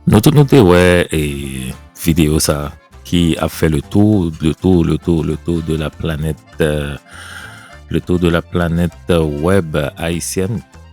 Nou tout nou te wè e video sa ki ap fè le tou, le tou, le tou, le tou de la planèt, le tou de la planèt wèb ayisyèn.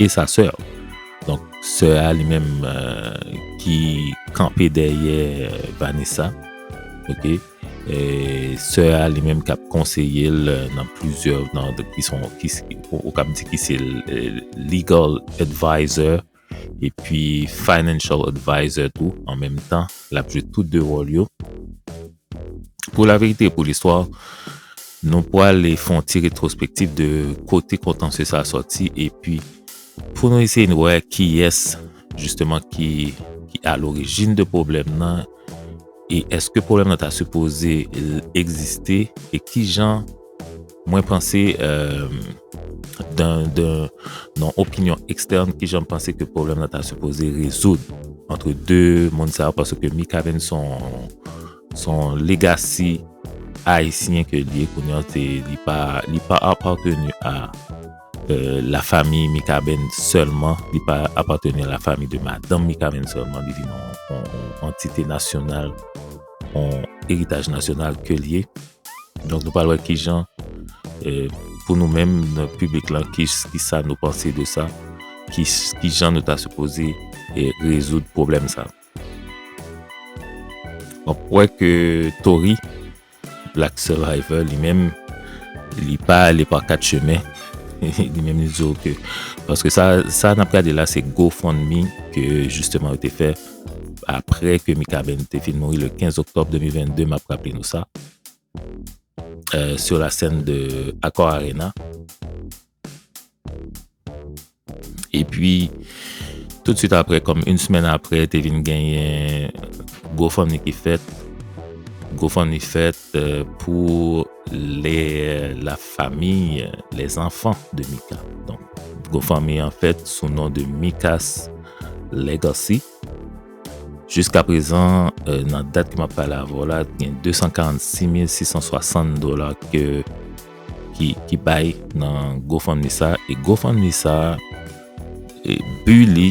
E sa sè ou. Donk sè a li menm ki kanpe dèyè Vanessa. Ok. E sè a li menm kap konseye l nan plizyè nan ki son ou kab di ki se legal advisor e pi financial advisor tou an menm tan. Lap jwe tout 2 wòl yo. Pou la verite e pou listwa, nou pwale fon ti retrospektif de kote kontansye sa soti epi pou nou eseye nou wè kiyès jisteman ki a lorijin de pwoblèm nan e eske pwoblèm nan ta sipoze egziste e kijan Mwen panse nan opinyon ekstèn ki jan m panse ke pwoblèm nan ta sipoze rezoud antre 2 moun sa yo paske Mikaben son legasi ayisyen ke li e kounye an se li pa apateni a la fami Mikaben sèlman, li pa apateni a la fami de madanm Mikaben sèlman li vin yon antite nasyonal yon eritaj nasyonal ke li e. Donk nou pral wè ki jan pou nou menm nan piblik lan ki sa nou panse de sa, ki jan nou ta sipoze rezoud pwoblèm sa. Mwen kwè ke Tory Black Survivor li menm li pa ale pa kat chemen, li menm li di yo ke paske sa n ap gade la se GoFundMe ke jisteman yo te fè. apre ke Mikaben te fin mouri le 15 oktob 2022, map raple nou sa, sur la scène de Accor Arena. E pi, tout de suite apre, kom une semaine apre, te vin genyen GoFundMe ki fèt, GoFundMe fèt, Pou lè la fami, lè zanfan de Mika. Donk, GoFundMe an fèt sou non de Mika's Legacy. Jiska prezan, nan dat ke map pale avè'w la, gen 246660 dola ke ki bay nan GoFundMe sa. E GoFundMe sa, bi li,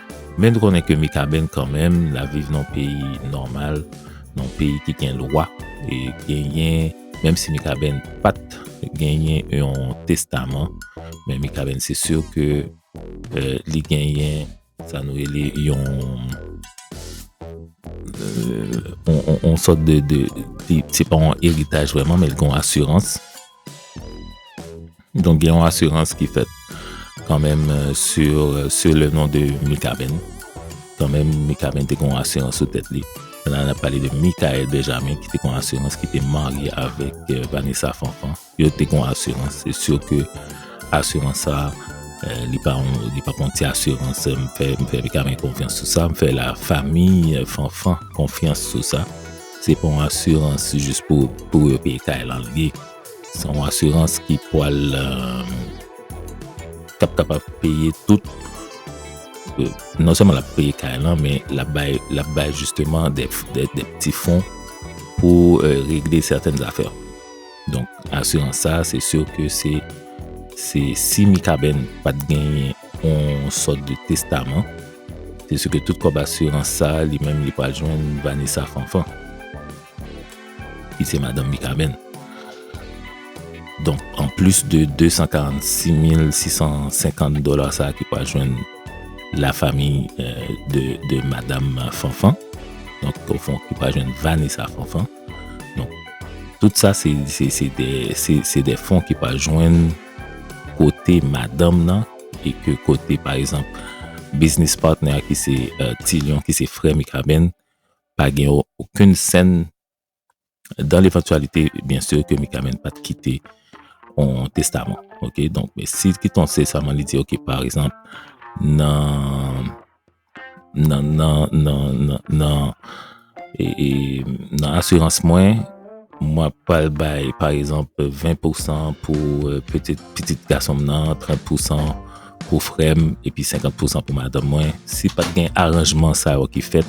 Men nou konnen ke Mikaben kanmenm l ap viv nan yon peyi nòmal, nan yon peyi ki gen lwa, e genyen, menm si Mikaben pa t genyen yon testaman, men Mikaben se si ke li genyen sa nou rele yon, yon sòt de, se pa yon eritaj vrèman men li gen yon asirans. Donk gen yon asirans ki fèt kan menm sou le non de Mikaben. Kan menm Mikaben te kon asirans sou tèt li. Nan nan pale de Mikael Benjamin ki te kon asirans ki te marye avèk Vanessa Fanfan. Yo te kon asirans. Se syo ke asirans sa li pa kon ti asirans. M fè Mikaben konfyans sou sa. M fè la fami Fanfan konfyans sou sa. Se pa yon asirans jis pou pou yo peye kay lan li ye. Se yon asirans ki pwal kap kapab peye tout non sèlman lap peye kay lan men lap bay lap bay jisteman de pti fon pou regle sèten zafè. Donk asirans sa se sur ke se se si Mikaben pat genyen yon sòt de testaman Se sou ke tout kòb asirans sa a li menm li pral jwenn Vanessa Fanfan ki se madanm Mikaben. Donk, an plis de 246650 dola sa a ki pral jwenn la fami de madanm Fanfan, donk ofon ki pral jwenn Vanessa Fanfan. Donk, tout sa se de fon ki pral jwenn. kote madanm nan e ke kote pa ekzanp biznis patnè a ki se Ti Lyon ki se frè Mikaben pa gen okenn sèn dan levantyalite byen sè ke Mikaben pa te kite yon testaman ok donk si l kite yon testaman li di ok pa ekzanp nan nan nan nan nan nan e, e, nan asirans mwen mwen pral bay pa egzanp 20 pou san pou euh, pitit pitit gason m nan 30 pou san pou frèm epi 50 pou san pou madanm mwen si pat gen aranjman sa yo ki fèt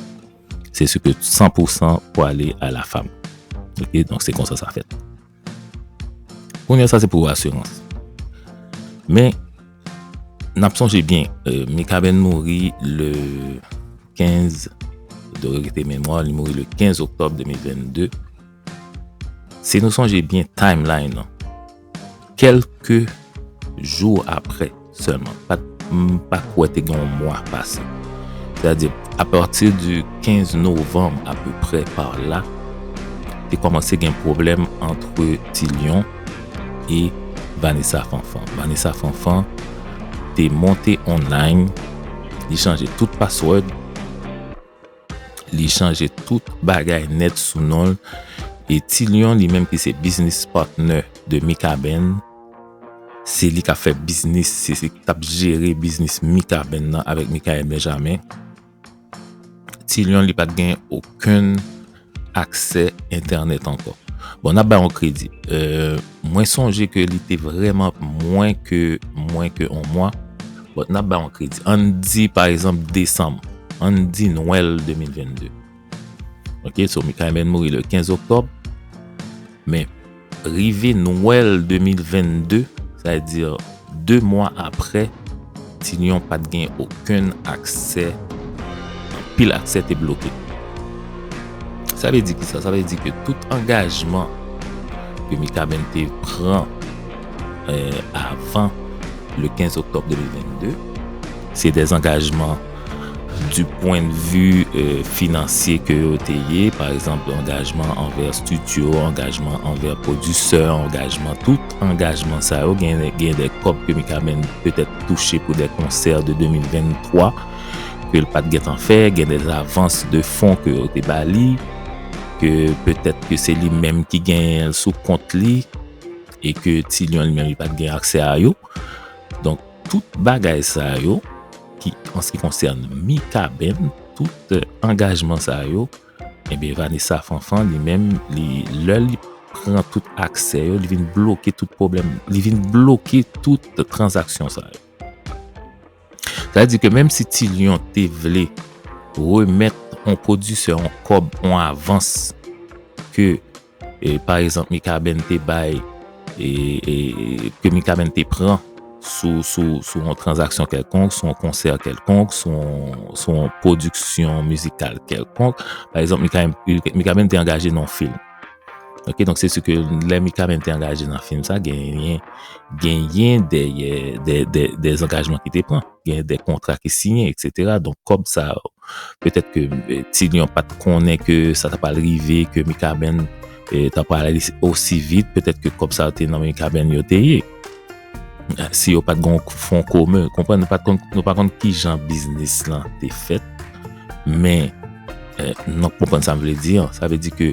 se si ke 100 pou san pou ale a la fam ok donk se konsa sa fèt Kounye a sa se pou asirans. Men, n ap sonje byen, Mikaben mouri le 15, de regete memwa, li mouri le 15 oktob 2022. Si nou sonje byen timeline lan, kelke jou apre, Sèlman, pat m pa kwè te gen yon mwa pase. Sètadi, apati di 15 novanm apeprè par la, te kòmanse gen pwoblèm antre Ti Lyon e Vanessa Fanfan. Vanessa Fanfan te monte online, li chanje tout password. Li chanje tout bagay nèt sou non l e Ti Lion li menm ki se biznis patnè de Mikaben, se li k ap fè biznis, se li k ap jere biznis Mikaben nan avèk Mikaèl Benjamen. Ti Lion li pa t gen okenn aksè entènèt ankò. Bon nap bay yon kredi. Mwen sonje ke li te vreman mwen ke mwen ke yon mwa. Bon nap bay yon kredi. Ann di pa egzanp desanm. Ann di nwèl 2022. Ok so Mikaben mouri le 15 oktòb. Men. Rive Nwèl 2022, sa vle di 2 mwa apre, Ti Lyon pa t gen okenn aksè, anpil aksè te bloke. Sa vle di ki sa? Sa vle di ke tout angajman ke Mikaben te pran avan le 15 oktòb 2022, se dezangajman. Du pwen de vi finansye ke yo te ye, pa egzanp, angajman anvè studio, angajman anvè pwodisè, angajman, tout angajman sa yo, gen de kòb ke Mikaben petèt touche pou de konsè de 2023 ke l pa t gen tan fè, gen de avans de fon ke yo te ba li, ke petèt ke se li menm ki genyen l sou kont li, e ke Ti Lyon li menm li pa t gen aksè a yo. Donk. Tout bagay sa yo ki anski konsène Mikaben, tout angajman sa yo, enben Vanessa Fanfan li menm li lè li pran tout aksè yo, li vin bloke tout pwoblèm, li vin bloke tout tranzaksyon sa yo. Sa di ke menm si Ti Lyon te vle remèt yon pwodisè yon kòb, yon avans ke Pa egzanp Mikaben te bay ke Mikaben te pran sou yon tranzaksyon kèlkonk, sou yon konsè kèlkonk, sou yon pwodiksyon mizikal kèlkonk. Pa egzanp Mikaben te angaje nan yon film. Ok, donk se si ke lè Mikaben te angaje nan film sa genyen genyen dèyè dèzangajman ki te pran. gen de kontra ki siyen etc donk kòb sa yo petèt ke Ti Lyon pat konnen ke sa ta pral rive ke Mikaben ta pral ale osi vit petèt ke kòb sa yo te nan men Mikaben yo te ye si yo pat gon fon komen konprann nou pa konn kijan biznis lan te fèt men nou konprann sa m vle di an sa vle di ke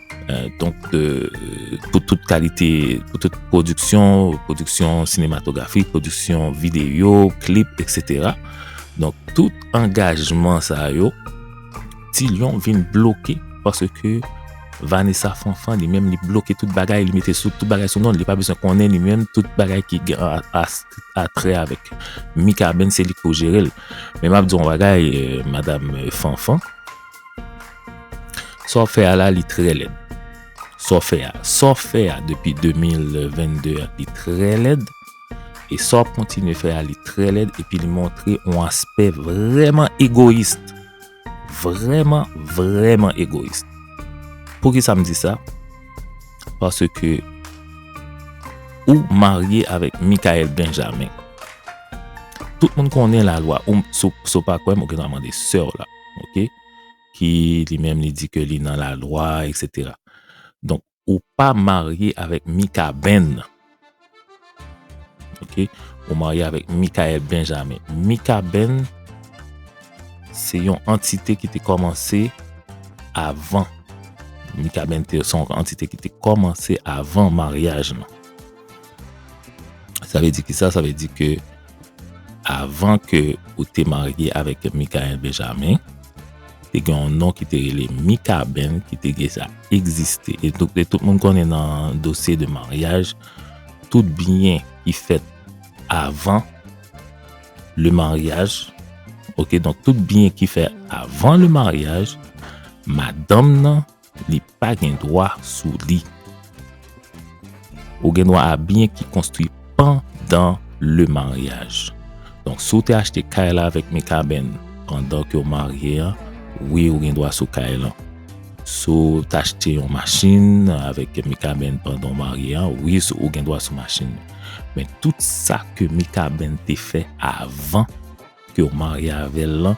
Donk pou tout kalite, pou tout pwodiksyon, pwodiksyon sinematografik, pwodiksyon videyo, klip, etc. Donk tout angajman sa yo, Ti Lyon vin bloke parce ke Vanessa Fanfan li menm li bloke tout bagay, li mete tout bagay sou non, li pa bezwen konnen li menm tout bagay ki gen a trè avèk Mikaben se li ki pou jere l. Men m ap di w yon bagay, Madame Fanfan, Sa w fè a la li trè lèd. Sa w fè a. Sa w fè a depi 2022 a li trè lèd. E sa w ap kontinye fè a li trè lèd. Epi li montre yon aspè vrèman egoyis. Vrèman, vrèman egoyis. Pou ki sa m di sa? Pase ke ou marye avèk Mikael Benjamin. Tout moun konnen la lwa. Ou, sou pa kwè m, ou gen dwa mande sè w la. ok, ki li menm li di ke li nan la lwa etc. Donk ou pa marye avèk Mikaben nan, ok, ou marye avèk Mikaèl Benjamen. Mikaben se yon antite ki te kòmanse avan, Mikaben se yon antite ki te kòmanse avan maryaj nan. Sa vle di ki sa? Sa vle di ke avan ke ou te marye avèk Mikael Benjamin, te gen yon non ki te rele Mikaben ki te deja egziste. E tout moun konnen nan dosye de maryaj, tout byen ki fèt avan le maryaj, ok, donk tout byen ki fèt avan le maryaj, madanm nan li pa gen dwa sou li. Ou gen dwa a byen ki konstwi pandan le maryaj. Donk, si w te achte kay la avèk Mikaben pandan ke w marye a, wi ou gen dwa sou kay lan. Si w te achte yon machin avèk Mikaben pandan w marye a, wi ou gen dwa sou machin nan. Men tout sa ke Mikaben te fè avan ke w marye avè l lan,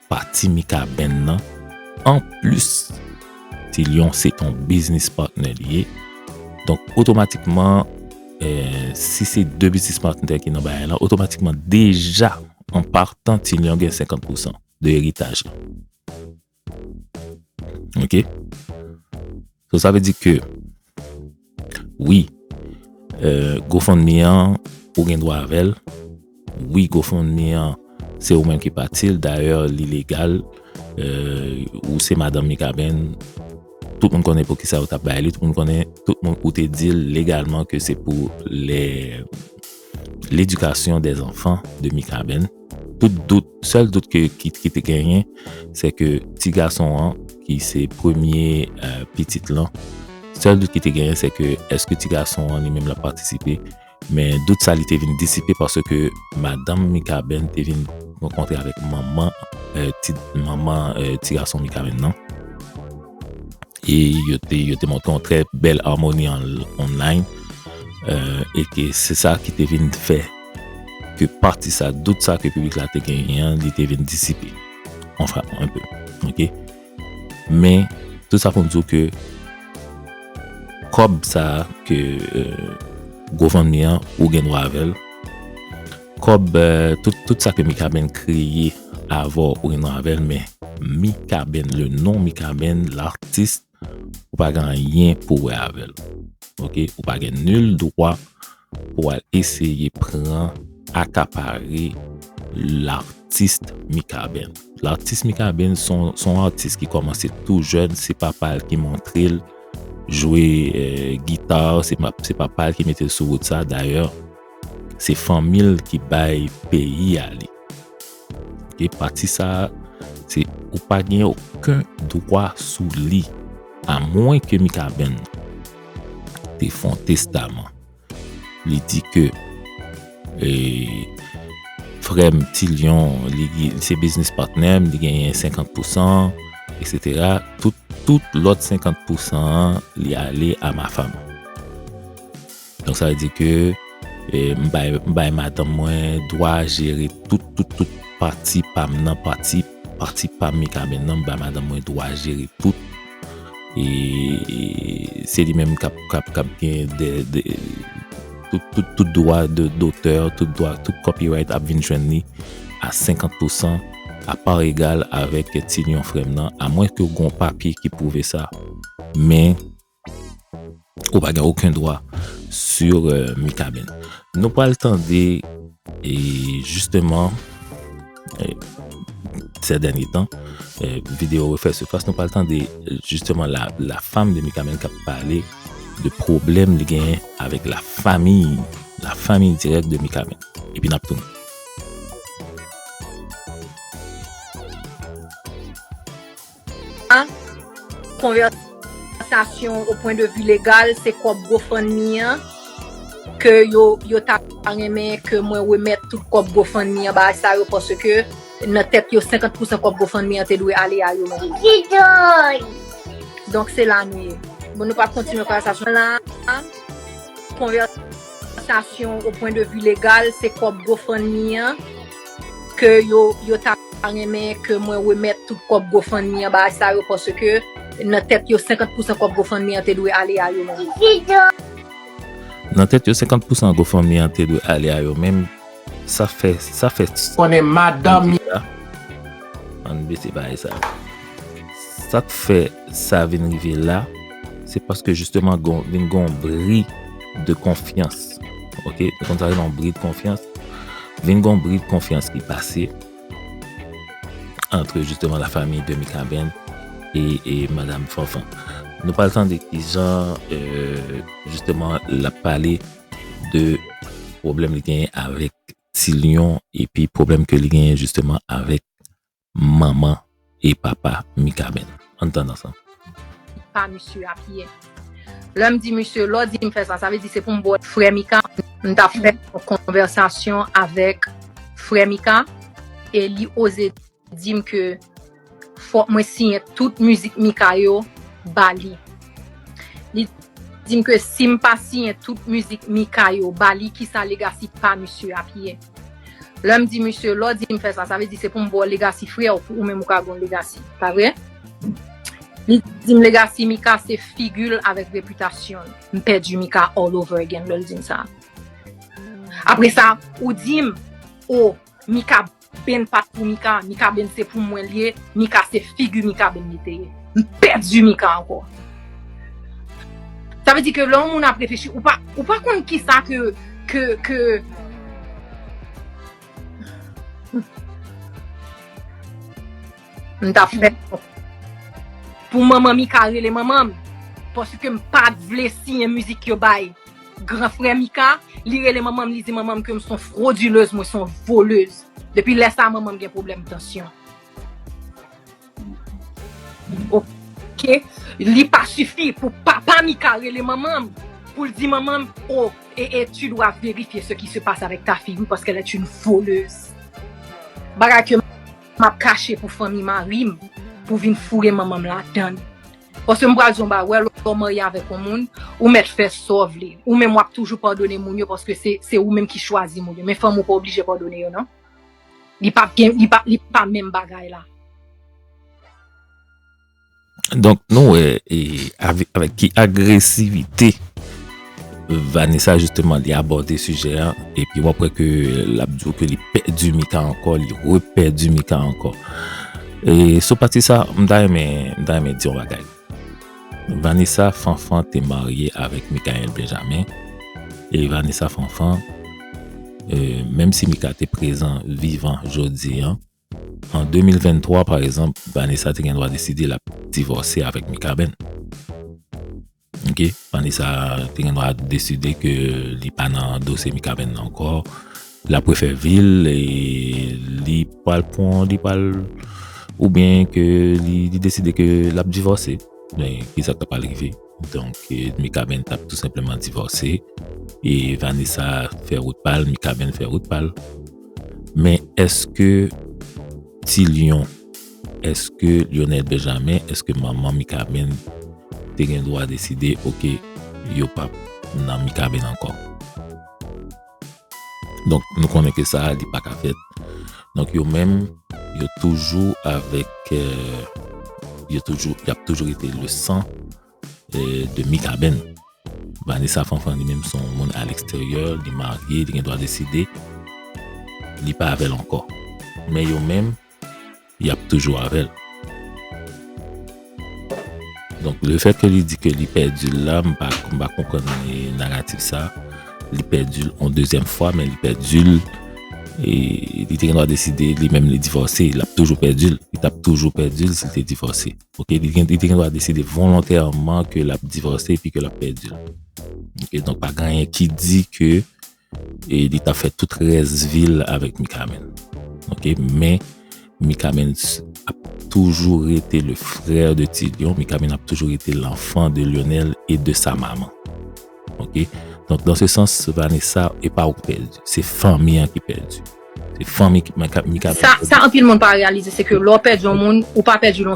pati Mikaben nan anplis Ti Lyon se ton biznis patnè li ye donk otomatikman si se 2 biznis patnè ki nan bagay la otomatikman deja an partan Ti Lyon gen 50 pousan de eritaj la ok So sa vle di ke, wi, euh, GoFundMe an, ou gen dwa avèl, wi, GoFundMe an, se ou menm ki pati l, dayè li legal, euh, ou se madanm Mikaben, tout moun konnen pou ki sa ou ta bay li, tout moun konnen, tout moun ou te di l legalman ke se pou lè. L'éducation des enfants de Mikaben, tout dout, sèl dout ke ki te genyen, se ke ti gason an ki se premye pitit lan, sèl dout ki te genyen se ke eske ti gason an li menm la patisipe, men dout sa li te vin disipe paske madanm Mikaben te vin rankontre avèk manman ti gason Mikaben nan. Et yo te, yo te montre yon trè bèl harmonie online. Euh, et ke se sa ki te vin fè ke pati sa, dout sa ke piblik la te genyen an, li te vin disipe. An fra, an pe. Ok? Men, tout sa pou m di w ke kòb sa ke euh, Gofundme an, ou gen dwa avè l. Kob tout sa ke mikaben kreye avè w ou gen dwa avè l men mikaben le non mikaben l'artiste ou pa gen anyen pou wè avè l ok ou pa gen nul dwa pou al eseye pran akapare l'artiste mikaben l'artiste mikaben son artiste ki komanse tou jèn se papa l ki montre l jwe guitar se papa l ki mete l sou wout sa dayè Se fanmi l ki bay peyi a li. Ok, pati sa a, se ou pa gen oken dwa sou li. A mwen ke Mikaben te fon testaman. Li di ke e, frèm Ti Lyon, li se biznis patnèm, li genyen 50 pousan, eksetera, tout, tout lòt 50 pousan an, li ale a Mafam. Donk sa vle di ke m bay madanm mwen dwa jere tout tout tout pati pa m nan, pati pati pa Mikaben nan m bay madanm mwen dwa jere tout e se li menm kap kap kap gen de de tout tout tout dwa de dotè, tout dwa tout copyright ap vin jwenn li a 50 pou 100 a par egal avèk ti lion frè m nan a mwens ke w gen yon papye ki pwouve sa men. Ou pa gen oken dwa sur Mikaben. Nou pral tande e jisteman se dènye tan video refè sifas nou pral tande jisteman la fam de Mikaben kap pale de pwoblèm li genyen avèk la fami, la fami dirèk de Mikaben. Epi nap tounen. A. Konvèsasyon o pwen de vi legal se kòb gofundme an ke yo ta renmen ke mwen remèt tout kòb gofundme an ba sa yo paske nan tèt yo 50 pousan kòb gofundme an te dwe ale a yo menm. Donk se la nou ye. Bon nou pa kontinye konvèsasyon la. A. Konvèsasyon o pwen de vi legal se kòb gofundme an. ke yo ta renmen ke mwen remèt tout kòb GoFundMe an ba sa yo paske nan tèt yo 50 pousan kòb GoFundMe an te dwe ale a yo menm. Nan tèt yo 50 pousan GoFundMe an te dwe ale a yo menm, sa fè, sa fè, ann bese bagay sa yo, sa k fè sa vin rive la. se paske jisteman vin gon bri de konfyans. Ok, kon sa vin gon bri de konfyans. Vin gon bri de konfyans ki pase antre jisteman la fami de Mikaben e Madame Fanfan. Nou pal tande ki jan euh, jisteman la pale de pwoblèm li genyen avèk Ti Lyon epi pwoblèm ke li genyen jisteman avèk manman e papa Mikaben. Ann tande ansanm. pa misye a pye. Lè m di misye, lè w di m fè sa, sa vle di se pou m ba w frè Mika? M t ap fè yon konvèsasyon avèk frè Mika e li oze di m ke fòk mwen siyen tout mizik Mika yo ba li. Li di m ke si m pa siyen tout mizik Mika yo ba li, kisa legasi pa misye ap ye? Lèm di misye lè w di m fè sa sa vle di se pou m ba w legacy frè w pou ou menm ou ka gen yon legacy pa vre? Li di m legacy Mika se figi l avèk repitasyon l. M pèdi Mika all over again lè l di m sa. Apre sa ou di m oh Mikaben pat pou Mika, Mikaben se pou mwen l ye, Mika se figi Mikaben li te ye. M pèdi Mika ankò. Sa vle di ke lè yon moun ap reflechi, ou pa, ou pa konn kisa ke, ke, ke. M ta fè pou manman Mika rele manman m, paske m pa t vle siyen mizik yo bay gran frè Mika, li rele manman m, li di manman m ke m son fwodilez, mwen son volez. Depi lè sa manman m gen pwoblèm tansyon. Ok li pa sifi pou papa Mika rele manman m pou l di manman m oh ee tu dois vérifier ce qui se passe avec ta fille wi paske elle est une voleuse bagay ke m ap kache pou fanmi mari m pou vin foure manman m ladann paske m pral di w yon bagay wè lè w marye avèk yon moun ou mèt fè sa w vle ou menm w ap toujou padone moun yo paske se ou menm ki chwazi moun yo men fanm ou pa oblije padone yo nan. Li pa gen, li pa, li pa menm bagay la. Donk nou wè, e, avèk ki agresivite Vanessa jisteman li abòde sijè an, epi wap wè ke l ap di w ke li pèdi Mika ankò, li repèdi Mika ankò. E sou pati sa, m ta renmen, m ta renmen di yon bagay. Vanessa Fanfan te marye avèk Mickaël Benjamin e Vanessa Fanfan menm si Mika te prezan vivan jodi an an 2023 pa ekzanp Vanessa te gen dwa deside l ap divòse avèk Mikaben ok Vanessa te gen dwa deside ke li pa nan dosye Mikaben nan ankò L ap refè vi l, li pral pran, li pral, oubyen ke li deside ke l ap divòse. Men, ki sa k ta pral rive? Donk, Mikaben t ap tou senpleman divòse, e Vanessa fè wout pa l, Mikaben fè wout pa l. Men, èske Ti Lyon, èske Lyonèl Benjamen, èske manman Mikaben te gen dwa deside, ok, yo p ap nan Mikaben ankò? Donk nou konnen ke sa a li pa ka fèt. Donk yo menm yo toujou avèk yo toujou y ap toujou rete le san de Mikaben. Vanessa Fanfan li menm son moun a leksteryè, li marye, li gen dwa deside li pa avè l ankò. Men yo menm yap toujou avèl. Donk le fèt ke li di ke li pèdi l la, m pa konprann naratif sa. Li pèdi l yon dezyèm fwa, men li pèdi l, e li te gendwa deside li menm li divòse, li ap toujou pèdi l, li tap toujou pèdi l si l te divòse. Ok, li te gendwa deside volontèman ke lap divòse epi ke lap pèdi l. Ok, donk pa gen anyen ki di ke E li tap fè tout rès vil avèk Mikaben. Ok men Mikaben ap toujou rete le frè de Ti Lyon. Mikaben ap toujou rete l'enfant de Lyonel e de sa maman. Ok donk dan se sans Vanessa e pa ou ki pèdi. Se fanmi an ki pèdi. Se fanmi Mikaben ki pèdi. Sa anpil moun pa reyalize se ke lè ou pèdi yon moun ou pa pèdi l.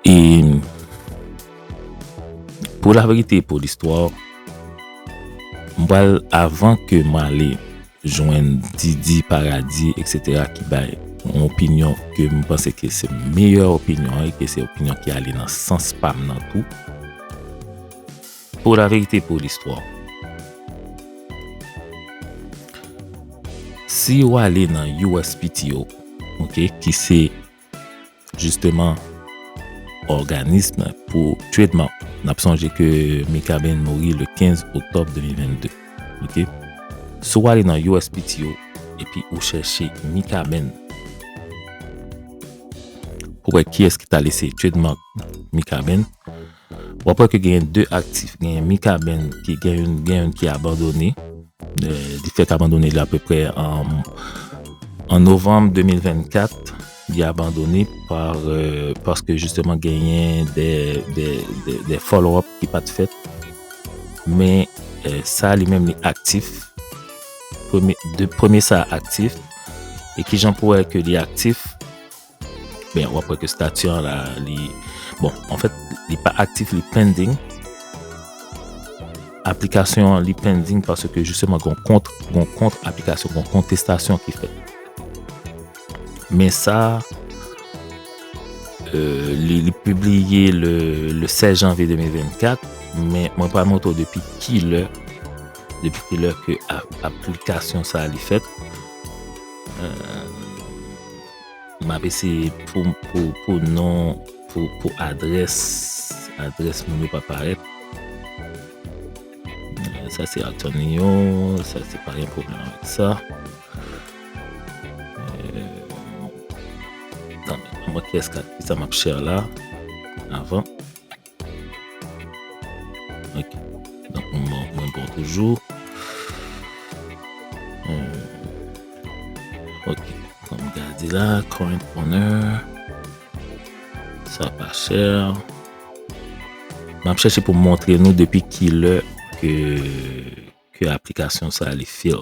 E pou la verite pou listwa, m pral avan ke m ale jwenn Didi, Paradi, eksetera ki bay yon opinyon ke m panse ke se meyè opinyon e ke se opinyon ki ale nan sans pa m nan tou. Pou la verite pou listwa, si ou ale nan USPTO, ok, ki se Jisteman, òganism pou tretman, n ap sonje ke Mikaben mouri le 15 oktòb 2022. Ok. Si w ale nan USPTO epi ou chèche Mikaben, pou wè kiyès ki ta lese tretman Mikaben, Wap wè ke genyen 2 aktif, genyen Mikaben ki gen youn, gen youn ki abandone, li fèk abandone li apeprè an novanm 2024, li abandone par, paske jisteman genyen de follow up ki pat fèt, men sa li menm li aktif, premye sa aktif, e kijan pou wè ke li aktif, Ben wap wè ke stati an la li bon anfèt li pa aktif li pending aplikasyon an li pending paske jisteman gon kont gon kont aplikasyon gon kontestasyon ki fèt men sa euh, li li pibliye le le 16 janvye 2024 men mwen pa mwoto depi ki lè depi ki lè ke aplikasyon sa li fèt euh, Map eseye pou pou non pou pou adrès adrès moun yo pa parèt sa se Antonio sa se pa gen pwoblèm avèk sa anmwey kiyès kap fè sa map chè la avan Ok. Donk mwen bon, mwen bon toujou. Euh, ok. Kom gade la, current owner. Sa pa chè. Map chèche pou montre nou depi ki lè ke ke aplikasyon sa li fil.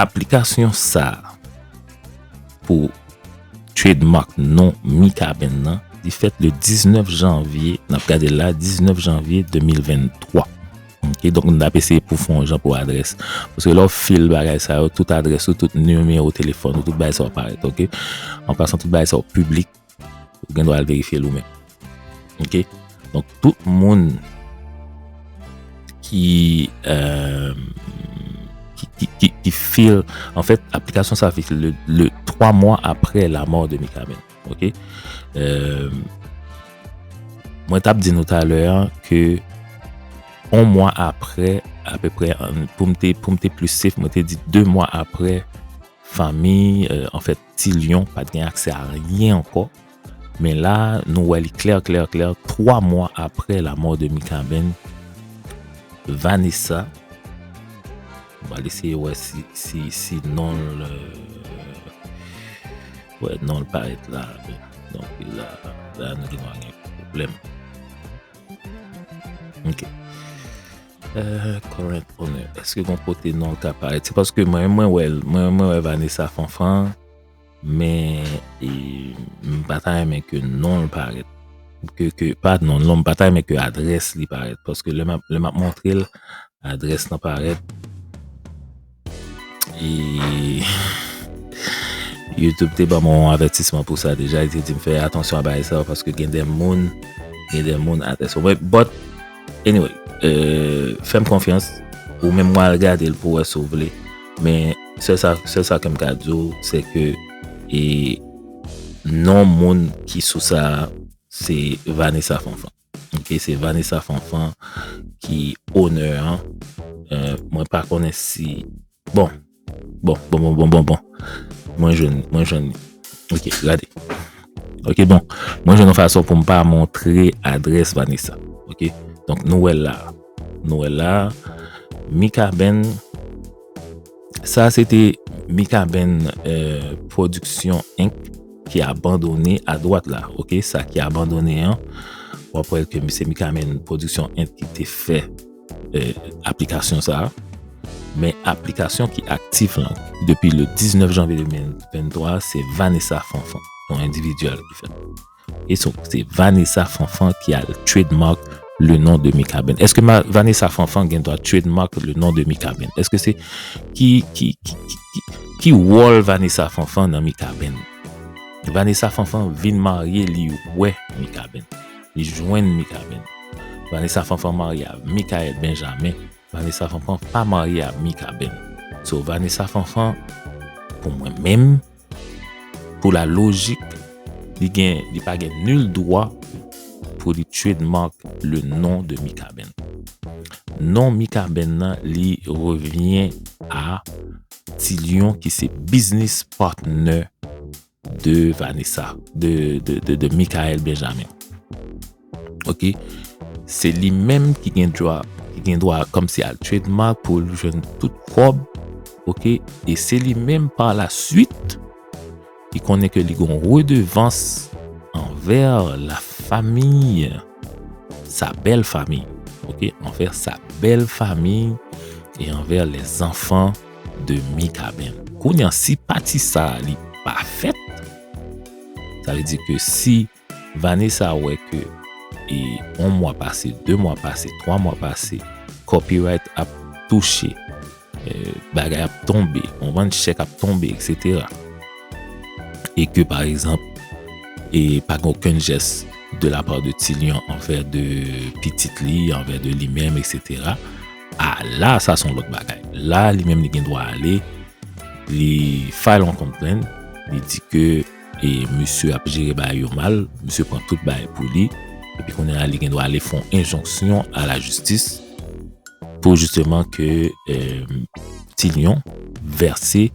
Aplikasyon sa a pou trademark non Mikaben nan li fèt le 19 janvye, n ap gade l la, 19 janvye 2023. Ok, donk n ap eseye pou fè yon jan pou adrès. Paske lè w fil bagay sa yo, tout adrès ou, tout nimewo telefòn ou, tout bagay sa yo parèt. Ok, an pasan tout bagay sa yo piblik. Ou gen dwa al verifye l ou menm. Ok? Donk tout moun ki euh, ki feel, an fèt aplikasyon sa fix le 3 mwa apre la mò de Mikaben. Ok? Euh, mwen tap di nou talè an ke on mwa apre, apeprè, pou m te plis sef, mwen te di 2 mwa apre fami, an euh, fèt Ti Lyon pa t gen aksè a anyen ankò, men la a, nou wè li klè klè klè, 3 mwa apre lamò de Mikaben, Vanessa, m pral eseye wè si non l, wè non l parèt la a, donk la a nou gen dwa gen pwoblèm. Ok. Current owner Eske gon kote non l ka parèt? Se paske mwen menm mwen wè l, mwen menm mwen wè Vanessa Fanfan, men e m pa ta renmen ke non l parèt. Ke, ke, pa non l non, m pa ta renmen ke adrès li parèt. Paske lè m ap, lè m ap montre l, adrès lan parèt. Youtube te ban mwen yon avètisman pou sa deja, li te di m fè atansyon a bagay sa yo paske gen de moun, gen de moun atè sa. Mwen, but, anyway, euh, fè m konfyans, ou menm mwen al gade l pou wè si w vle, men, sèl sa, sèl sa ke m ka di w, se ke, e, non moun ki sou sa a, se Vanessa Fanfan. Ok se Vanessa Fanfan ki onè an. Mwen pa konnen si... Bon. Bon, bon, bon, bon, bon, bon. Mwen jwenn, mwen jwenn. Ok, gade. Ok, bon. Mwen jwenn yon fason pou m pa montre adrès Vanessa. Ok. Donk nou wè l la. Nou wè l la. Mikaben. Sa se te Mikaben Production Inc. Ki abandone a dwat la. Ok, sa ki abandone an. Ou ap wè ke Mse Mikaben Production Inc. Ki te fè aplikasyon sa. Men aplikasyon ki aktif lan. Depi le 19 janvye 2023, se Vanessa Fanfan. Yon individual ki fè. E son kote Vanessa Fanfan ki al trademark le non de Mikaben? Eske Vanessa Fanfan gen dwa trademark le non de Mikaben? Eske se ki ki ki ki ki wòl Vanessa Fanfan nan Mikaben? Vanessa Fanfan vin marye li wè Mikaben. Li jwenn Mikaben. Vanessa Fanfan marye a Mikael Benjamin. Vanessa Fanfan pa marye a Mikaben. So Vanessa Fanfan pou mwen menm Pou la lojik, li gen, li pa gen nul dwa pou li trademark le non de Mikaben. Non Mikaben nan li revyen a Ti Lion ki se business partner de Vanessa, de Mikael Benjamin. Ok, se li menm ki gen dwa, ki gen dwa kom si al trademark pou li jwenn tout kob, ok, e se li menm pa la suite ki konnen ke li gon redevans anver la famiy, sa bel famiy, ok, anver sa bel famiy e anver le zanfan de Mikaben. Kounye an, si pati sa li pa fet, sa ve di ke si Vanessa wè ke e on mwa pase, de mwa pase, twa mwa pase, copyright ap touche, bagay ap tonbe, konprann, chèk ap tonbe, eksetera. E ke pa egzanp, e pa gen okenn jès de la pa de Ti Lyon anvè de pitit li, anvè de li menm, eksetera. A la sa son lòt bagay. La li menm li gen dwa ale, li file on complaint, li di ke. E misye ap jere bagay yo mal, misye pran tout bagay pou li, epi kounye a li gen dwa ale fon enjonksyon a la jistis pou jisteman ke Ti Lyon vèse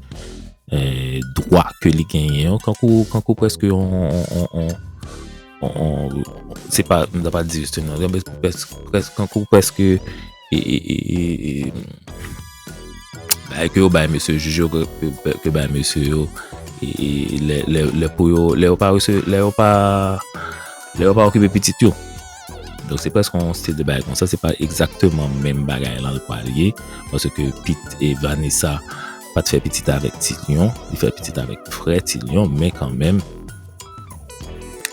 dwa ke li genyen yo, kankou preske yon, se pa, m ta pa di jisteman, kankou preske. Bagay ke yo bay mesye jij yo, ke yo bay mesye yo, lè pou yo, lè yo pa rese, lè yo pa, lè yo pa okipe pitit yo. Donk se preske yon stil de bagay konsa, se pa egzakteman menm bagay lan l pral ye, panse ke pit e Vanessa pa t fè pitit avèk ti Lion, li fè pitit avèk frè ti Lion, men kan menm,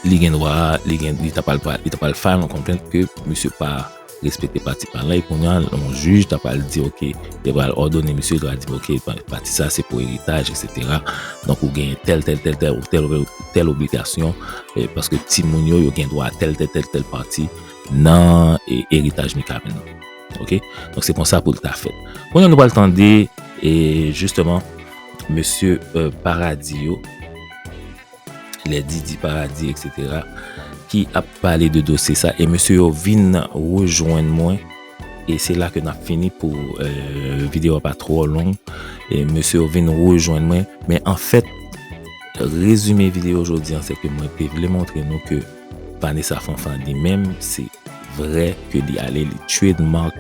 li gen dwa, li gen, li ta pral, li ta pral file yon konplent ke misye pa. Respekte pati parèy kounya yon jij ta pral di ok yo pral òdone misye yo di ok pati sa se pou eritaj eksetera donk ou genyen tèl tèl tèl tèl ou tèl ou tèl obligasyon paske timoun yo yo gen dwa tèl tèl tèl tèl pati nan eritaj Mikaben nan ok donk se konsa poul ta fèt kounya nou pral tande e jisteman mesye paradi yo. lè Didi Paradis etc ki ap pale de dosye sa e mesye yo vin rejwenn mwen e se la ke nap fini pou video pa tro long e mesye yo vin rejwenn mwen men an fèt rezime video jodi an se ke mwen te vle montre nou ke Vanessa Fanfan li menm se vre ke li ale li tchwe Dmark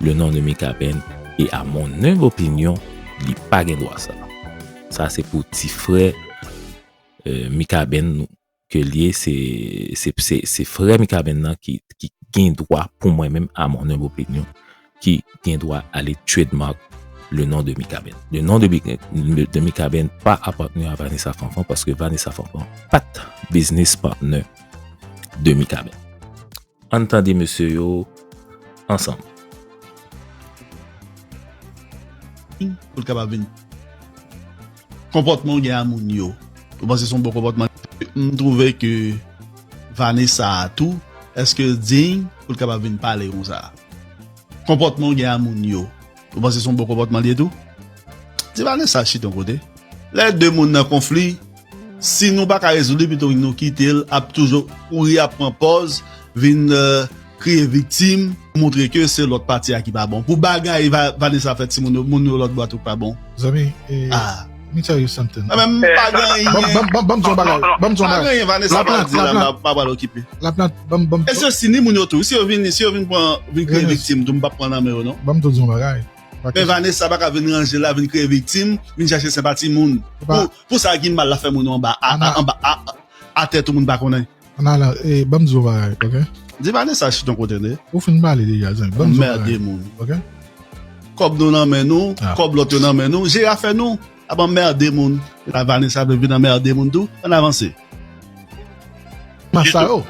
le non de Mikaben e a mon humble opinion li pa gen dwa sa. Sa se pou ti frè Mikaben ke l ye, se frè Mikaben nan ki gen dwa pou mwen menm a mon humble opinion, ki gen dwa ale trademark le non de Mikaben. Le non de Mikaben pa apatni a Vanessa Fanfan paske Vanessa Fanfan pat business partner de Mikaben. Ann tande mesye yo ansanm. Pou l kapab vin. Konpòtman w gen a moun yo. Ou panse son bon konpòtman. M twouve ke Vanessa a tou. Eske l diny pou l kapab vin pale konsa. Konpòtman w gen a moun yo. Ou panse son bon konpòtman l ye tou. Ti Vanessa chita yon kote. Lè de moun nan konfli. Si nou paka rezoud li pito nou kitel ap toujou kouri ap pran pòz vin kriye viktim pou montre ke se lòt pati a ki pa bon pou bagay Vanessa fè timoun yo moun yo lòt bò a tout pa bon Zanmi ah let me tell you something Mwen menm m pa gen anyen Banm di yon bagay Banm di yon bagay Pa gen anyen Vanessa pral di la m pa pral okipe Laplant banm banm E se si ni moun yo tou si yo vin si yo vin pran vin kriye viktim tou m pap pran nan men yo non Banm tou di yon bagay Men Vanessa paka vin ranje la vin kriye viktim vin chache senpati moun pou Pou sa gin mal la fè moun ou anba Ana anba atè tou moun pa konnen. Ana la ee banm di w yon bagay ok. Di Vanessa chita yon kote tande. Ou fin pale deja zanmi banm di w yon bagay. Anmerde moun. Ok. Kòb nou nan men nou kòb lòt yo nan men nou jere afè nou ap anmerde moun la Vanessa vle vin anmerde moun tou ann avanse. Pas sa yo.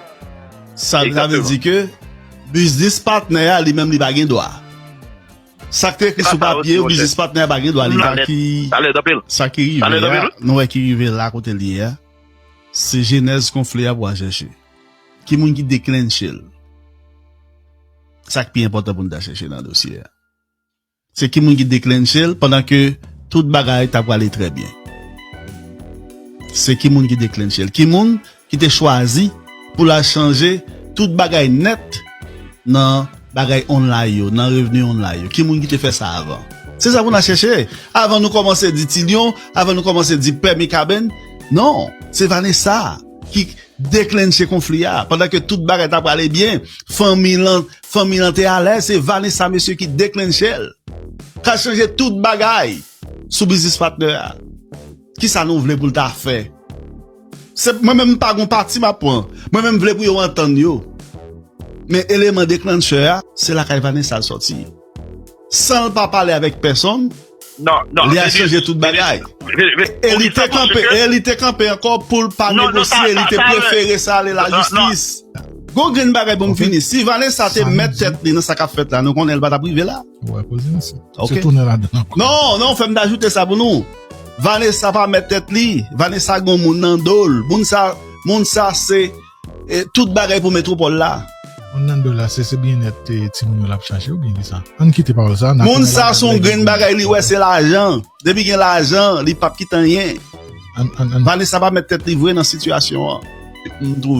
Sa vle di ke biznis patnè a li menm li pa gen dwa. Sak te ekri sou papye yo biznis patnè a pa gen dwa li pa ki sa ki rive a nou wè ki rive la kote li ye a se jenèz konfli a pou al chèche ki moun ki deklennche l sak pi enpòtan pou nou ta chèche nan dosye a se ki moun ki deklennche l pandan ke tout bagay ta prale trè byen se ki moun ki deklennche l ki moun ki te chwazi pou l al chanje tout bagay nèt nan bagay online yo, nan revni online yo? Ki moun ki te fè sa avan? Se sa pou n al chèche avan nou kòmanse di Ti Lyon, avan nou kòmanse di Pè Mikaben. Non, se Vanessa ki deklennche konfli a. Pandan ke tout bagay ta prale byen, fanmi lan, fanmi lan te alèz, se Vanessa mesye ki deklennche l, k al chanje tout bagay sou biznis patnè a. Ki sa nou vle pou l ta fè? Se mwen menm pa gon pati map pran mwen menm vle pou yo antann yo men eleman deklanchè a se lakay Vanessa l sòti sanl pa pale avèk pèsonn li al chanje tout bagay e li te kanpe e li te kanpe ankò poul pa negosye li te prefere sa ale lajistis gon grenn bagay poum fini si Vanessa te mèt tèt li nan sa kap fèt la nou konnen li pa tap rive la. Wè koze a se. Ok. Se tounen ladan ankò. Non, non, fè m ta ajoute sa pou nou. Vanessa pa mèt tèt li. Vanessa gen yon moun nan do l. Moun sa, moun sa se eh, tout bagay pou metropole la. Moun nan do l la se se byennèt eh, timoun yo l ap chache oubyen ki sa? Ann kite pawòl sa a, n a Moun tounen sa ladan son lè gen grenn bagay li wè se lajan. Depi gen lajan, li p ap kite anyen. An, an, an. Vanessa pa mèt tèt li vre nan sitiyasyon an. M twouve.